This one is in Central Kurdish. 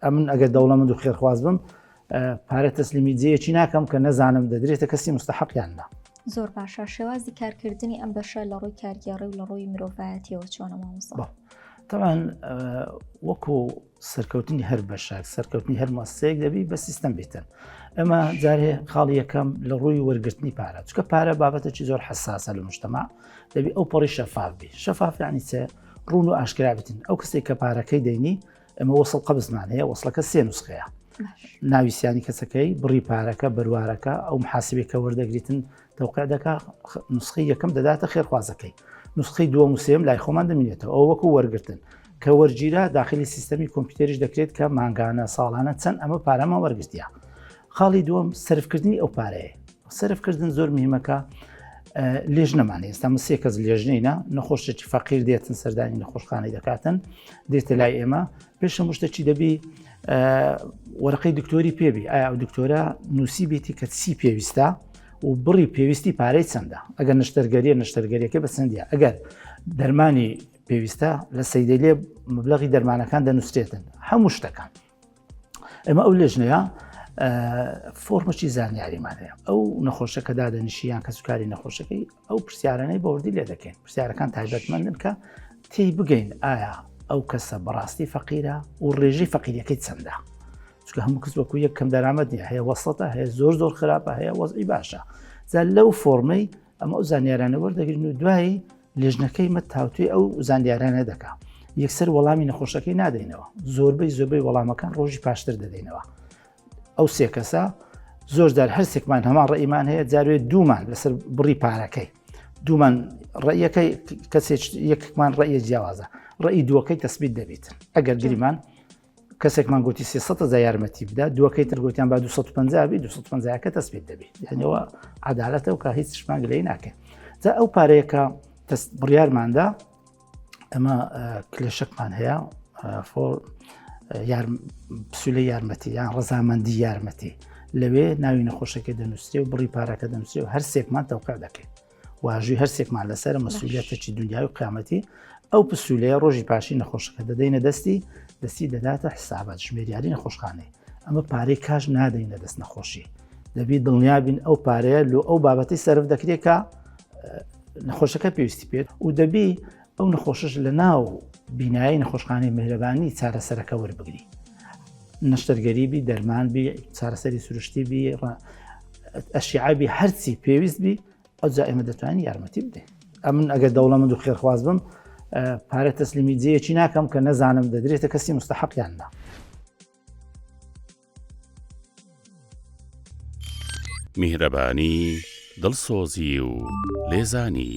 ئەمن ئەگەر دەوڵەمەند و خێرخواز بم پارە تەسلیمی جێیەکی ناکەم کە نەزانم دەدرێتە کەسی مستحقیاندا زۆر باشە شێوازی کارکردنی ئەم بەشە لە ڕووی کارگێڕی و لە ڕووی مرۆڤایەتیەوە چۆنە مامۆستا تەوان وەکو سەرکەوتنی هەر بەشاک سەرکەوتنی هەر ماسەیەک دەبی بە سیستم بیتن ئەمە جارێ خاڵی یەکەم لە ڕووی وەرگرتنی پارە چکە پارە بابەتەکی زۆر حساسە لە مشتما دەبی ئەو پەڕی شەفاف بی شەفافیانی چێ ڕون و ئاشکرابتن ئەو کەسێک کە پارەکەی دەینی ئەمە وەسڵ قەبزمان هەیە وەسڵەکە سێ نوسخەیە ناوی سیانی کەسەکەی بڕی پارەکە بەروارەکە ئەو محاسبێکە وەردەگریتن دەوقع دەکا نسخی یەکەم دەداتە خێرخوازەکەی نسخی دووە موسێم لای خۆمان دەمینێتەوە ئەو وەکو وەرگتن کە وەرگیرە داخلی سیستەمی کۆمپیوتەریش دەکرێت کە مانگانە ساڵانە چەند ئەمە پارەمە وەرگتیە خاڵی دووەم سرفکردنی ئەو پارەیە سرف کردن زۆر میمەکە لێژنەمان ئێستا سێ کەس لێژنینە نەخۆشێکی فەقیر دێتن سەردانی نەخۆشخانەی دەکاتن دێتە لای ئێمە پێشە مشتەکی دەبی وەرقی دکتۆری پێبی ئایا ئەو دکتۆرە نووسی بێتی کە سی پێویستە و بڕی پێویستی پارەی چەندە ئەگەر نشتەرگەریە نشتەرگەریەکە بە چەندە ئەگەر دەرمانی پێویستە لە سەیدەلێ مبلغی دەرمانەکان دەنووسێتن هەموو شتەکان ئێمە ئەو لێژنەیە فۆرمەکی زانیاریمان هەیە ئەو نەخۆشەکە دادەنیشیان کە سوکاری نەخۆشەکەی ئەو پرسیارانەی بەوردی لێ دەکەین پرسیارەکان تایبەتمەندن کە تی بگەین ئایا ئەو کەسە بەڕاستی فەقیرە و ڕێژی فەقیریەکەی چەندە چکە هەموو کەس وەکو یەک کەم دەرامەت نیە هەیە وەسەتە هەیە زۆر زۆر خراپە هەیە وەزئی باشە جا لەو فۆرمەی ئەمە ئەو زانیارانە وەردەگرن و دوایی لیژنەکەی مەد تاوتوێ ئەو زانیارانە دەکا یەکسەر وەڵامی نەخۆشەکەی نادەینەوە زۆربەی زۆربەی وەڵامەکان ڕۆژی پاشتر دەدەینەوە ئەو سێ کەسە زۆرجار هەرسێکمان هەمان ڕێمان هەیە جاروێت دوومان لەسەر بڕی پارەکەی دوومان ڕێیەکەی کەسێک یەکمان ڕێە جیاوازە ڕێی دووەکەی تەسبیت دەبیت ئەگەر گریمان کەسێکمان گوتی سێ سە جا یارمەتی بدا دووەکەی تر گوتیان با 250 بی 250 کە تەسبێت دەبێت یانەوە عدالەتە و کە هیچ شمان لێ ناکەن جا ئەو پارەیەکە بڕیارماندا ئەمە کلێشەکمان هەیە فۆر پسولە یارمەتی یان ڕزامەندی یارمەتی لەوێ ناوی نەخۆشەکە دەنووسێ و بڕی پارەکە دەنووسێ و هەر سێکمان تەوقع دەکەین واژوی هەرسێکمان لەسەر مەسوولەتەچی دنیای و قیامەتی ئەو پسوولەیە ڕۆژی پاشی نەخۆشەکە دەدەینە دەستی دەستی دەداتە حسابات ژمێریاری نەخۆشخانەی ئەمە پارەی کاش نادەینە دەست نەخۆشی دەبی دڵنیابین ئەو پارەیە لۆ ئەو بابەتی سرف دەکرێکە نەخۆشەکە پێویستی پێت و دەبی ئەو نەخۆشش لە ناو بینایی نەخۆشخانەی مهرەبانی چارەسەرەکە وەربگری نەشتەرگەریبی دەرمانبی چارەسەری سروشتی بی ئەشیعبی هەرچی پێویست بی ئەو جا ئێمە دەتوانین یارمەتی بدەین ئەمن ئەگەر دەوڵەمەند و خێرخواز بم پارە تەسلیمی جەیەکی ناکەم کە نەزانم دەدرێتە کەسی مستحقیاندا میهرەبانی دڵسۆزی و لێزانی